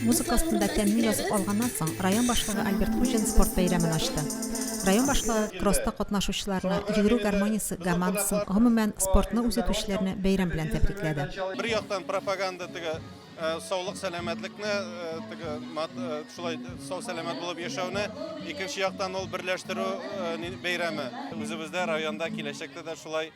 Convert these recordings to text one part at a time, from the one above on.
Музыка астында тәмле язып алганнан соң, район башлыгы Альберт Хуҗин спорт бәйрәмен ачты. Район башлыгы кросста катнашучыларны, йөгерү гармониясе гомандасын, гомумән, спортны үзетүчеләрне бәйрәм белән тәбрикләде. Бер яктан пропаганда теге саулык сәламәтлекне теге шулай сау сәламәт булып яшәүне, икенче яктан ул берләштерү бәйрәме. Үзебездә районда киләчәктә дә шулай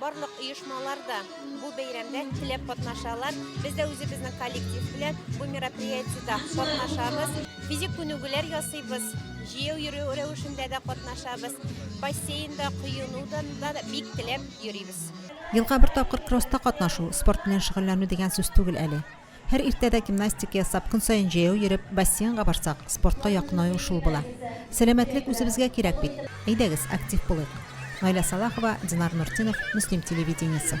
Барлык оешмалар да бу бәйрәмдә теләп катнашалар. Без дә үзебезнең коллектив белән бу мероприятиедә катнашабыз. Физик күнегүләр ясыйбыз, җәяү йөрү рәвешендә дә катнашабыз. Бассейнда, коенуда да бик теләп йөрибез. Елга бер тапкыр кросста катнашу, спорт белән шөгыльләнү дигән сүз түгел әле. Һәр иртәдә гимнастика ясап, көн саен җәяү йөреп, бассейнга барсак, спортка якынаю шул була. Сәламәтлек үзебезгә кирәк бит. Әйдәгез, актив булыйк. Наилә Салахова, Динар Нуртдинов, Мөслим телевидениесе.